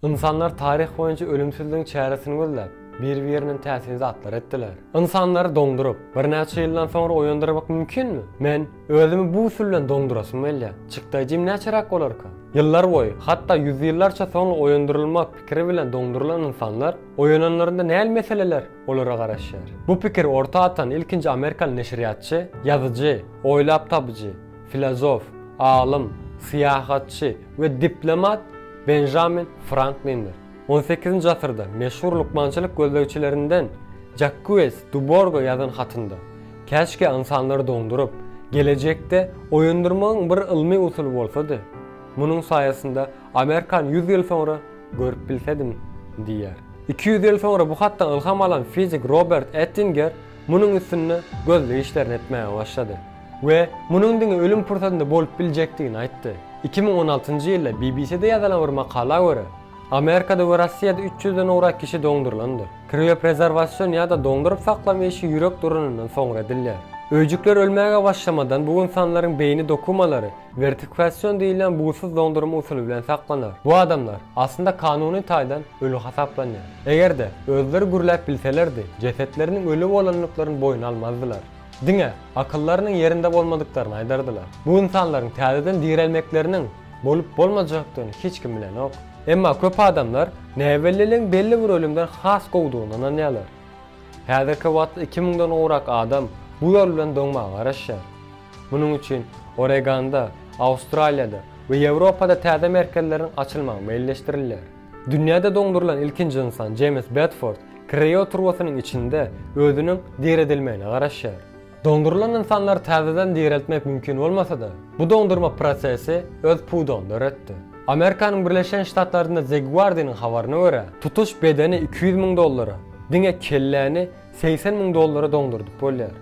Ynsanlar taryh boýunça ölümsizligiň çäresini gözläp, biri-birinden täsin zatlar etdiler. Ynsanlary doňduryp, birnäçe ýyldan soňra oýandyrmak mümkinmi? Men özümi bu usul bilen doňdurasym gelýär. Çykdaýjym näçeräk bolarka? Ýyllar boýy, hatda ýüzýyllarça soňra oýandyrylmak pikiri bilen doňdurylan ynsanlar oýananlarynda näl meseleler olara garaşýar. Bu pikiri orta atan ilkinji amerikaly neşirýatçy, ýazyjy, oýlap tapyjy, filozof, alym, syýahatçy we diplomat Benjamin Franklindir. On sekizinji asyrda meşhur lukmançylyk gözlegçilerinden Jakkues Duborga ýazan hatynda, Käşgä ynsanlary doňduryp, gelejekde oýandyrmagyň bir ylmy usuly bolsady. Munuň saýasynda Amerkan ýüz ýyl soňra Görüp bilsedim, diýýär. Iki ýüz ýyl soňra bu hatdan ylham alan fizik Robert Ettinger munuň üstünde gözleg işlerini etmäge başlady we munuň diňe ölüm pursatynda bolup biljekdigini aýtdy. Iki müň on altynjy ýylda BBC-de ýazylan bir makala görä, Amerikada we Rossiýada üç ýüzden ugrak kişi doňdurylandyr. Krioprezerwasion ýa-da doňduryp saklama işi ýürek duranyndan soňra edilýär. Öýjükler ölmäge başlamadan bu ynsanlaryň beýni dokumalary Wertifikasion diýilýän buzsyz doňdurma usuly bilen saklanar. Bu adamlar, aslynda kanuny taýdan öli hasaplanýar. Eger-de, özleri gürläp bilselerdi, jesetleriniň öli bolandyklaryny boýun almazdylar. Diňe, akyllarynyň ýerinde bolmadyklaryny aýdardylar. Bu ynsanlaryň täzeden direlmekleriniň bolup-bolmajakdygyny hiç kim bilenok. Emma köp adamlar näbelliligiň belli bir ölümden has gowudygyna ynanýarlar. Häzirki wagtda iki müňden gowrak adam bu ýol bilen doňmaga garaşýar. Munuň üçin Oreganda, Awstraliýada we Ýewropada täze merkezleriň açylmagy meýilleşdirilýär. Dünýäde doňdurylan ilkinji ynsan Jeýms Bedford krioturbasynyň içinde özüniň diredilmegine garaşýar. Doňdurylan ynsanlary täzeden direltmek mümkin bolmasa-da, bu doňdurma prosesi öz pudagyny döretdi. Amerikanyň Birleşen Ştatlarynda The Guardian-yň habaryna görä, tutuş bedeni iki ýüz müň dollara, diňe kelläni segsen müň dollara doňdurdyp bolýar.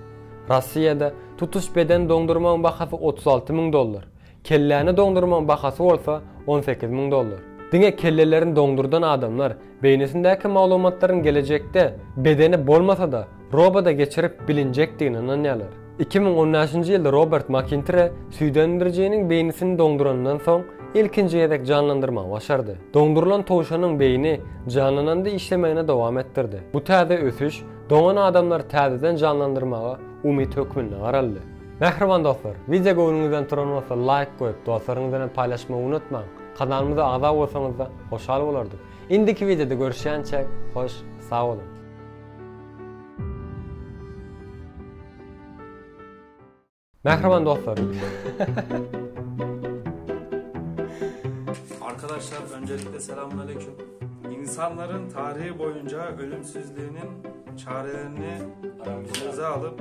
Rossiýada tutuş bedeni doňdurmagyň bahasy otuz alty müň dollar, Kelläni doňdurmaň bahasy bolsa on sekiz müň dollar. Diňe kellelerini doňdurdan adamlar beýnisindäki maglumatlaryň gelejekde bedeni bolmasa-da roboda geçirip bilinjekdigine ynanýarlar. Iki müň on bäşinji ýylda Robert Makintire süýdemdirijiniň beýnisini doňduranyndan soň ilkinji gezek janlandyrmagy başardy. Doňdurylan towşanyň beýni janlananda işlemegini dowam etdirdi. Bu täze ösüş doňan adamlary täzeden janlandyrmaga umyt hökmünde garaldy. Mähriban dostlar, wideo göwnüňizden turan bolsa laýk goýup, dostlaryňyz bilen paýlaşmagy unutmaň! Kanalymyza agza bolsaňyzda hoşal bolardyk! Indiki wideoda görüşýänçä hoş sag boluň! Mähriban dostlar, Arkadaşlar öncelikle selamun aleyküm. İnsanların tarihi boyunca ölümsüzliğinin çarelerini göze alıp